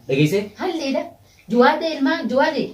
Dhageessee? Halliidha. Jawaadee ilmaa jawaadee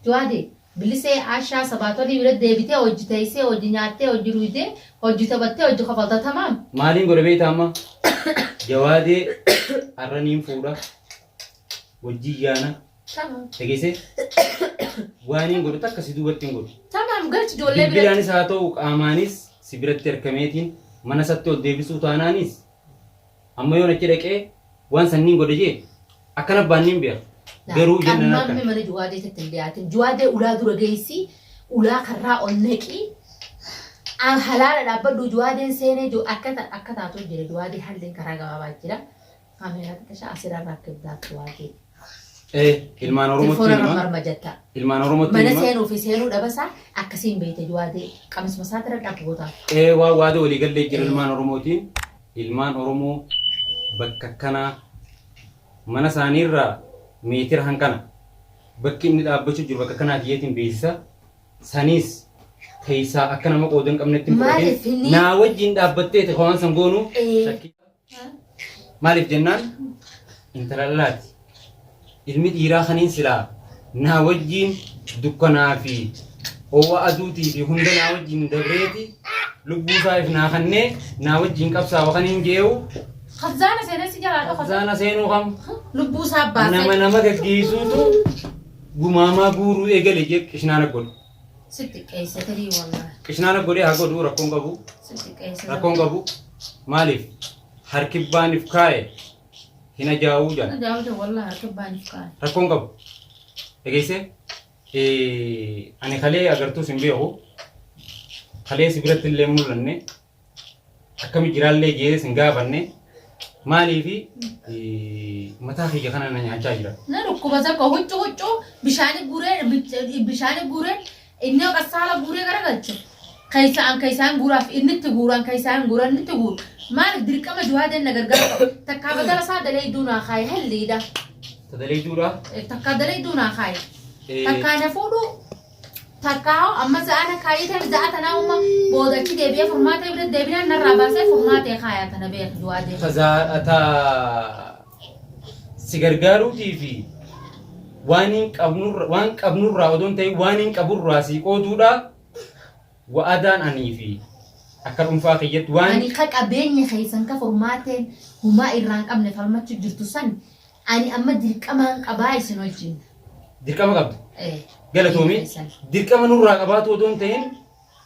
jawaadee bilisee ashaa sabaatolii bira deebitee hojji teessee hojji nyaattee hojji dhuydee hojji taphattee hojji kofalta tamaam. Maaliin godhe beektaa amma? Jawaadee har'a niin fuudha. Wajjin yaana. Tamaam. Dhageessee? Waaniin godhu takka si duubatti hin godhu. Tamaam galchi ijoollee bira. Bilbilaanis haa ta'u qaamaanis si biratti harkameetiin mana isatti ol deebisuu taanaanis Amma yoon achi dhaqee waan san nin godha jee akkan abbaan nin beeka. Laal Garuu ijoolleen amma harkan. amme mana juwaadee tetti hin dhiyaatin juwaadee ulaa dura geessi ulaa karraa ol naqi a- halaala dhaabbadhu juwaadeen seenee ju akka ta- akka taatu jira juwaadee halliin karaa gabaabaa jira kaameeraa xiqqashaa asirraa rakkibdaaf juwaadee Ee ilmaan Oromootti telefoona hima. marmarma jetta Ilmaan Oromootti mana hima. seenuu fi seenuu dhabasaa akkasiin beeyte juwaadee qamisma isaati irra dhaqu gootaaf Ee waa waada walii gallee jira ilmaan Oromootiin. Ilmaan Oromoo bakka akkanaa mana isaanii irraa meetira hanqana bakki inni dhaabbachuu jiru bakka akkanaa tiyyeetiin beeksisa saniis keessaa akka nama qooda hin qabnetti hin Maaliif fudhatin inni- naa wajjin dhaabbatteeti kan waan san goonu Ee. shakkii- maaliif jennaan intala dhalaati Ilmi dhiiraa kaniin silaa naa wajjiin dukkanaa fi oowwa aduutii fi hunda naa wajjiin dabreeti lubbuu isaa if naa kannee naa wajjiin qabsaawa kaniin jee'uu Kazzaana seenee si jalaa dhokate. zaana seenuu kam Lubbuu isaa nama baasee nama gaggeessuutu gumaamaa guuruu eegale jee qishnaana godhu. sitti qeesse tirii wallaan. Qishnaana godhee haa godhu rakkoon qabu Sitti qeesse. rakkoon qabu maaliif harkibbaaniif kaa'e hin ajaa'uu Hin jedha. ajaa'uu jedha wallah harka baaniif kaa'an. Rakkoon qabu. Dhageessee? Eh, Ani kalee agartuus hin beeku. Kalee si biratti illee hin mul'anne. Akkami jiraallee jeetes hin gaafanne. Maaliifi eh, mataa kiyya kana na nyaachaa jira. Na dhukkuba zakka huccu huccu bishaani guuree bishaani guuree Inni akka saala guuree garagalche keessaan keessaan guuraaf inni itti guuraan keessaan guuraan inni itti guuru maaliif dirqama juhaadeen na gargaara qaba takkaa badala isaa daleeyduu naa kaaye halliidha Tadalee duura. takkaa daleeyduu naa kaaye takkaa na fuudhu takkaa hoo amma za'aa na kaayee ta'e za'aa tanaa umma booda achi deebi'ee furmaatee bira deebinaan narraa baasee furmaatee kaayaa tana beeku juhaadeen. Tazaa ta si gargaaruutii fi waan hin qabnurra waan qabnurraa odoo hin ta'in waan hin qaburraa sii qooduudha wa'adaan anii fi akka dhuunfaa kiyyatti waan Ani ka qabeenya keessan ka furmaateen humaa irraa hin qabne falmachuu jirtu san ani amma dirqamaan qabaa isin wajjin. dirqama qabda Eh, galatoomi keessan. dirqama nurraa qabaatu odoo hin ta'in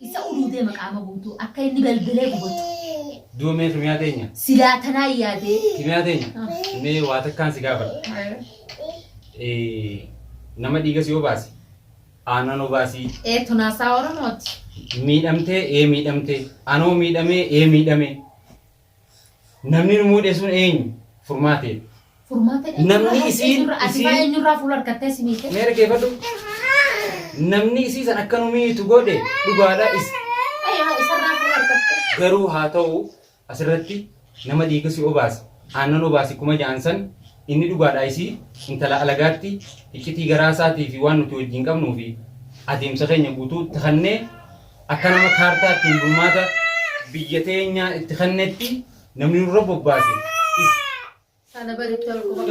Isa uduutee maqaama guutuu akka inni belbelee gubatu. Du'a mee kimiyaa teenya. Silaa tanaa yaadee. Kimiyaa teenya. Mee waa takkaan si gaafadha. Eh, Nama dhiigas yoo baase aanan obaasii Ee tunaasaa Oromooti. miidhamtee ee miidhamtee anoo miidhamee ee miidhamee Namni nu muudhe sun eenyu? Furmaatee. Furmaata eenyurraa Namni hafte isiin- eenyurraa ati faa isiin- eenyurraa fuula harkattee si miite? Mee dhaggeeffadhu. Namni isii san akka nu miitu godhe dhugaadha. Is- Ayyaa isarraa fuula harkattee. Garuu haa ta'u asirratti nama dhiiga si obaase aannan obaase kuma ja'an san inni dhugaadha isii intala alagaatti iccitii garaa isaatii fi waan nuti wajjin qabnuu fi adeemsa keenya guutuu takannee Akka nama kaartaa ittiin bulmaata biyya teenyaa itti kennetti namni nurra bobbaase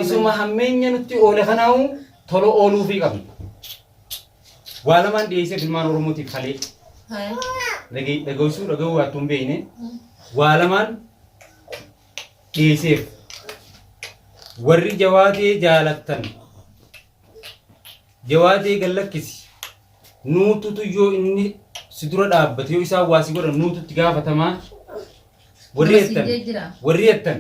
isuma hammeenya nutti oole kanaahu tola ooluufii qabna. Waa lamaan dhiyeessee filmaan Oromootiif kalee dhaga'isuu dhaga'uu waattuu hin beekne waa lamaan dhiyeesseef. Warri jawaatee jaalattan jawaatee gallakkisi. Nuututu yoo inni si dura dhaabbate yoo isaan waa si godhan nuutu itti gaafatamaa warri Nama jettan siidee jira. warri jettan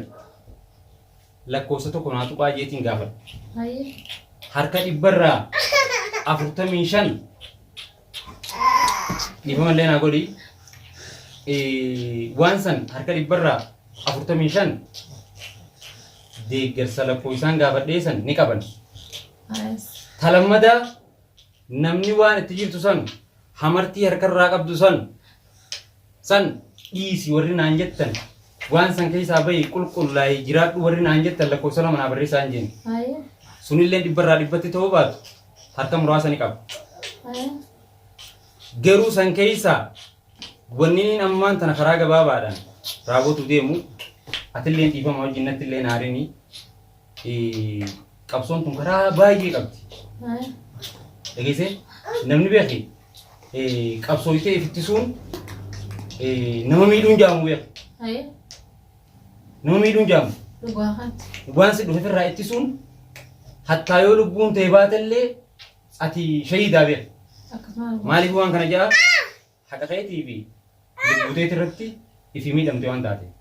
lakkoofsa tokko naa tuqaa jeetiin gaafadha. Hayee. harka dhibbarraa afurtamii shan dhiifamallee naa godhi Eh, waan san harka dhibbarraa afurtamii shan deeggarsa lakkoofsaan gaafadhee san ni qaban Hayes. talammadaa Namni waan itti jirtu san hamartii harkarraa qabdu san san dhiisi warri naan jettan waan san keessaa bahi qulqullaa'i jiraadhu warri naan jettan lakkoofsa lama naa barreessaa hin jenne. Haye. Sunillee dhibbarraa dhibbatti ta'uu baatu harka muraasa ni qaba. Haye. Garuu san keessaa wanni inni ammaan tana karaa gabaabaadhaan raawwatu deemu atillee dhiifama wajjin nattillee naarinii qabsoon kun karaa baay'ee qabdi. Dhageessee namni beeki qabsooytee ifittisuun nama miidhuun jaamu beeka. Nama miidhuun jaamu. Waan si dhufe irraa ittisuun hattaa yoo lubbuun ta'e baatellee ati shahiidaa beeka. Maaliif waan kana ja'a? Haqa keetii fi lubbuu teeti irratti ifii miidhamte waan taateef.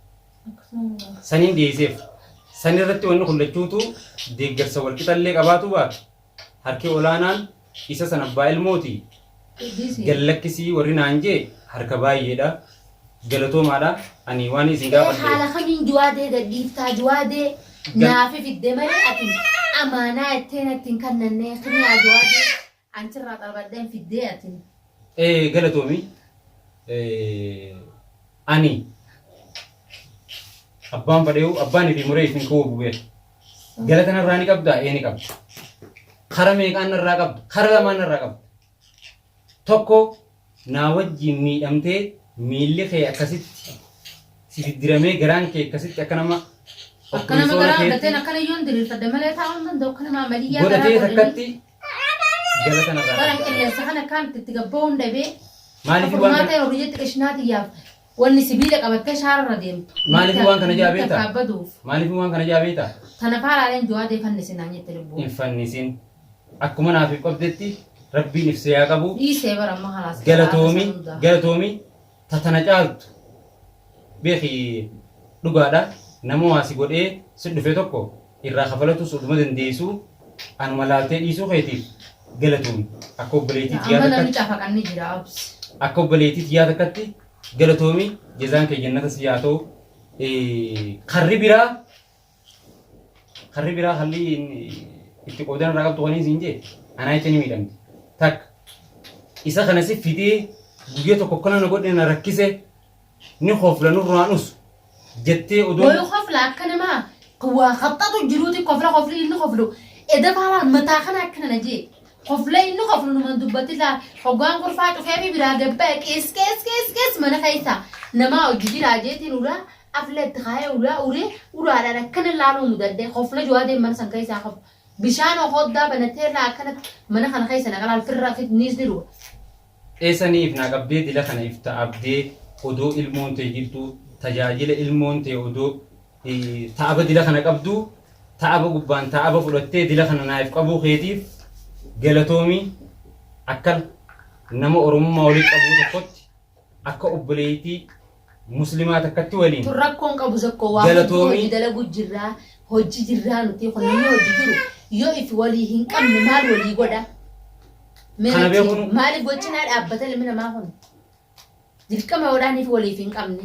Saniin dhiyeesseef. San irratti wanni kun lachuutuu deeggarsa wal qixa illee qabaatuu baatu, harki olaanaan isa san abbaa ilmooti. Gad lakkisii warri naan jee harka baay'eedha. Galatoomaadha. Ani waanii isin gaafadhe. Mee haala kamiin Juwaadee gad dhiiftaa? Juwaadee naafi fidde malee ati amaanaa jettee natti hin kannannee. Kimiyaa Juwaadee. An sirraa xarbadheen fiddee ati. Ee galatoomi Ani abbaan fadheehu abbaan fi muree isin kawuu bubee galata narraa ni qabdaa ee ni qabda kara meeqaan narraa qabda kara lamaan narraa qabda tokko naa wajjiin miidhamtee miilli kee akkasitti si diddiramee garaan kee akkasitti akka nama Akka nama opereesyoona garaa keetti argatteen akkana yoon diriirfadde malee taa'uu hin danda'u akka nama amaliyyaa garaa godhatee godhanii. takkatti Galata narraa Baran dhabdaa. qilleensa kana akkaamitti itti gabba'uun dhabee Maaliif waan furmaata kana- yeroo biyyatti qishinaa xiyyaaf wanni sibiila qabattee shaararra deemtu. Maaliif waan kana ja'a beektaa? Akka baduuf. Maaliif waan kana ja'a beektaa? Tana faalaaleen jawaadee fannisi naan jette lubbuu. Hin fannisin. Akkuma naaf ibqabdetti rabbiin ibsee haa qabu. Dhiisee bara amma halaas. Galatoomi, galatoomi. ta tana caaltu beeki dhugaadha nama waa si godhee si dhufe tokko irraa kafalatuus oduma dandeeysuu anuma laaltee dhiisuu keetiif galatoomi akka obboleeytii tiyyaa takkatti akka obboleeytii tiyyaa takkatti galatoomi jazaan kee jannata siif haa ta'u karri biraa Karri biraa halli itti qoodan irraa qabdu kan siin jee anaa jecha ni miidhamti. Takka isa kana si fidee guyyaa tokko akkana na godhe na rakkise ni kofla nurraa nus jettee odoo Wayuu kofla akka namaa waa qaxxatu jiruuti kofla kofli inni koflu eda baalaan mataa kana akkana na jee kofla inni koflu numan dubbatti laa hoggaan kurfaa cufee fi biraa gabbaa qees qees qees qees mana keessa namaa hojii jiraa jeetiin uraa Afla itti kaayee ulaa uree ulaadhaan akkana laaluu mudadhee kofla Jawaadeen mana san keessaa kof bishaan okooddaa banatee irraa akkanatti mana kana keessa naqa laal firra fitniisni dhuga. Eessa ni ifnaa qabdee dila kana ifta abdee odoo ilmoon tee jirtuu tajaajila ilmoon tee odoo ta aba dila kana qabduu ta aba gubbaan ta aba fudhattee dila kana naayif qabuu keetiif galatoomii akkana nama oromummaa walitti qabuu tokkotti Akka obboleeytii muslimaa takkatti waliin. Tun rakkoo hin qabu zakkoo waa hedduu hojji dalaguu jirraa hojji jirraa nutii kun namni hojji jiru yoo if walii hin qabne maal walii godha maaliif waccinaa dhaabbata ilmi namaa kun dirqama yoo dhaaniif waliif hin qabne.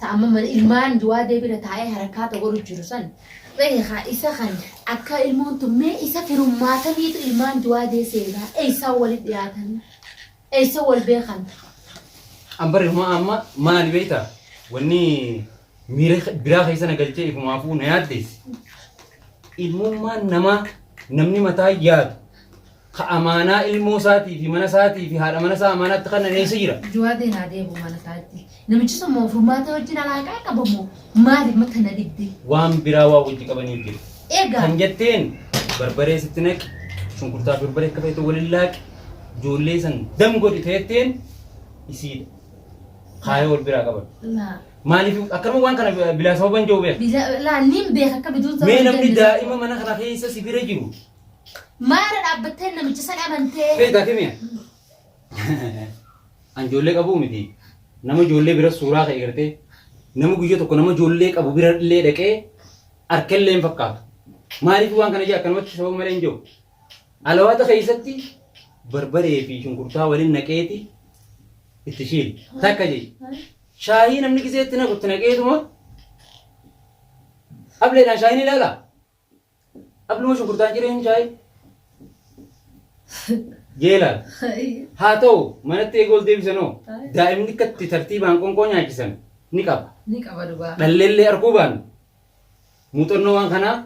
ta amma mana ilmaan duwaa debira taa'ee harakkaa ta godhu jiru san beeka isa kan akka ilmoon tun mee isa firummaataniitu ilmaan duwaa dee seenaa eeysaa wali dhiyaatan eeysa wal beekan Ambare huma amma maali beekta wanni miira biraa keessa na galchee ifumaafuu na yaaddeessi. Ilmummaan namaa namni mataa yaadu Ka amaanaa ilmoo isaatii fi mana isaatii fi haadha mana isaa amaanaatti kennan eessa jira? Juwaadeen haa deebi'u mana isaatti. Namichi sun moo furmaata wajjin alaaqaa qaba moo maaliif ma kana didde? Waan biraa waa wajji qabaniif jira. Egaa Kan jetteen barbaree sitti naqi, shunkurtaa fi barbaree akka feetu waliin laaqi, ijoollee san dam godhi teetteen isiidha. Kaayoo wal biraa qaban. laa Maaliif akkanuma waan kana bilaa sababan jiru beeku. bila- laa niin beeka akka biduun Mee namni daa'ima mana kana keessa si bira jiru Maara dhaabbattee namicha san amantee. Beektaa kimiya? An ijoollee qabuu miti. Nama ijoollee bira suuraa ka'e gartee nama guyyaa tokko nama ijoollee qabu bira illee dhaqee harkallee hin fakkaatu. Maaliif waan kana jee akkanumatti sababa malee hin jiru. Alawaata keessatti barbaree fi shunkurtaa waliin naqeeti itti shiili. Takka jee. Shaayii namni giseetti naqutti naqeetuma ableedhaan shaayiin ilaalaa. Abnuma shunkurtaa ciree hin shaayee? Jeelaan. Haa ta'u manatti eega ol deebisanoo daa'imni akka itti tartiibaan qoonqoo nyaachisan ni qaba. Ni qaba dhugaa. Dhalleellee arkuu baannu muuxannoo waan kanaa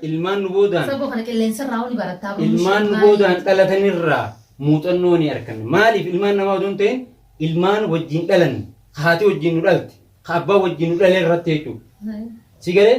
ilmaan nu boodaan Saboo kana qilleensarraa ni barattaa abnuma ilmaan nu boodaan dhalatanirraa muuxannoo ni arkanna. Maaliif ilmaan namaa odoo hin ta'in ilmaan wajjin dhalanne, ka haati wajjin nu dhalte, ka abbaan wajjin nu dhale irratti jechuudha. Si galee?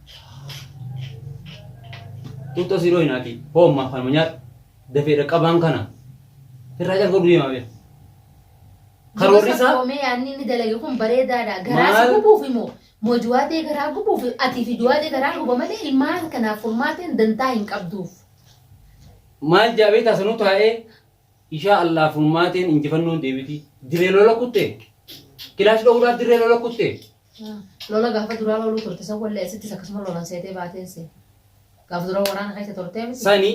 Xuuxxoo sii dhooyna akii. Hoo ammaa kanuma nyaadhu. Dafee dhaqqabaan kana. Sirraa calqabdu deemaa bee. Karoorri Dibata isaa koomee yaadni inni dalage kun bareedaadha. Garaa si Maal? gubuuf immoo mojuwaatee garaa gubuuf ati fi juwaatee garaa guba malee ilmaan kanaaf furmaateen dantaa hin qabduuf. maal jaabee taasanuu taa'ee ishaa Allah furmaateen injifannoon deebiti. Dirree lola kutte. Kilaash dhowuudhaaf dirree lola kutte. Lola gaafa duraa looluu turte san wallee asittis akkasuma lolan seetee baateen see. Gaafa dura waraana keessa turtee miti. Sani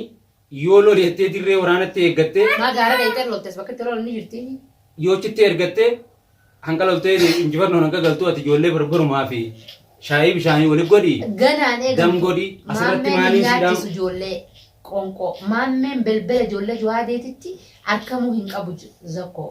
yoo loli jettee dirree waraanatti eeggattee Maa gaara dheeyxee loltes bakka itti lolan ni jirti. yoo achitti ergattee hanga loltee injifannoon hanga galtuu ati ijoollee barbarumaa fi shaayii bishaanii wali godhi Ganaan eegamtu. Dam godhi, asirratti Maammeen maaliin hin si nyaachisu dhaam- ijoollee qonqoo. Maammeen belbela ijoollee Juwaadeetitti arkamuu hin qabu ju- zakkoo.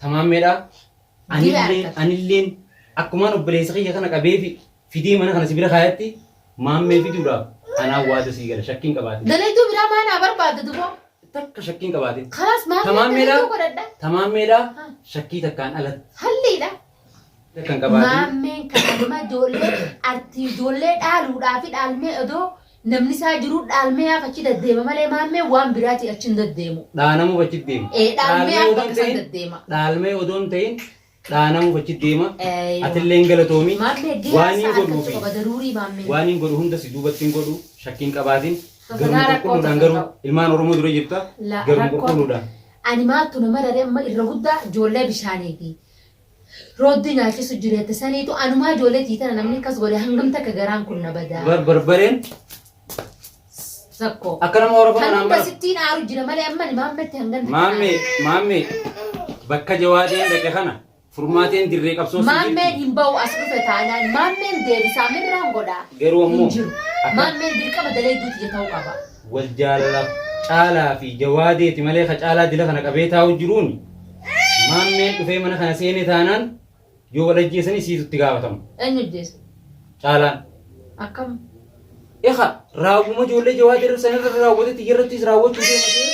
Tamaammeedha. Anillee anilleen akkumaan obboleessa kiyya kana qabee fi fidee mana kana si bira kaayatti maammee fiduudhaaf anaan waada sii gala shakkiin qabaate. Dalayduu biraa maa naa barbaadda duboo? Takka shakkiin qabaate. Kalaas maammee Tamaammeedha. dalayduu godhadha. Tamaammeedha. Ha. Shakkii takkaan alatti. Halliidha. Maammeen kana nama ijoollee artii ijoollee dhaaluudhaa fi dhaalmee odoo namni isaa jiruu dhaalmee haaf achi daddeema malee maammeen waan biraatii achi hin daddeemu. Dhaanamuuf achi deema. Ee, dhaalmee haaf akka isaan daddeema. Dhaalmee odoo hin ta'in dhaanamuuf achi deema. Eeyyoo. Atillee hin galatoomi. Maammee gahee Waan hin isaa godhuu argachuu fi qaba daruurii maammeen. waan hin godhu hunda si duubatti hin godhu shakkii hin qabaatin. Sosodaa Garuma rakkoo qulqulluudhaan tokko garuu hin qabu. ilmaan Oromoo dura jirta. La- Garuma rakkoo- qulqulluudhaan. Ani maaltu nama raree amma irra guddaa ijoollee bishaaniiti. Rooddi nyaachisu jirette saniitu anumaa ijoollee tii tana namni akkas godhe hangam takka garaan kun na badaa. Bar barbareen Zakko. akka nama horofa kanaan Hangam bara. sittiin aaru jira malee amman maammetti hangan takka Maammee aaru. maammee bakka jawaadeen dhaqe kana furmaateen dirree qabsoo si Maammeen jirti. hin ba'u as dhufe taanaan maammeen deebisaa mirraan godhaa. Garuu ammoo Hin jiru. akka- Maammeen dirqama dalee duuti jeta'uu qaba. wal jaalala caalaa fi jawaadeeti malee ka caalaa dila kana qabee taa'u jiruun Maammeen dhufee mana kana seene taanaan yoo wal ajjeesanii siitu itti gaafatama. Eenyu ajjeese? Caalaan. Akkam? Eka raawwuma ijoollee jawaa dirree sana irra raawwatetti iyyarrattis raawwachuu deematee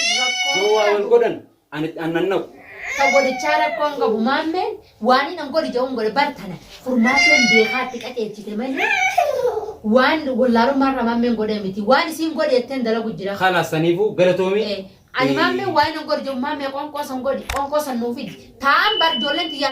yoo waa wal godhan ani itti aannan naqu. Ka godichaa rakkoo hin qabu. Maammeen waan inni hin godhi jedhu hin godhe. Bar tana furmaateen beekaatti qajeelchite malee waan wallaalummaarraa maammeen godhe miti. Waan isiin godhe jetteen dalagu jira. Kalaas saniifuu galatoomii. Eh, Ani maammee waa'ee na gorjoo maammee qoonqoo san godhi qoonqoo san nuu fidi taa'an bar ijoolleen tiyyaa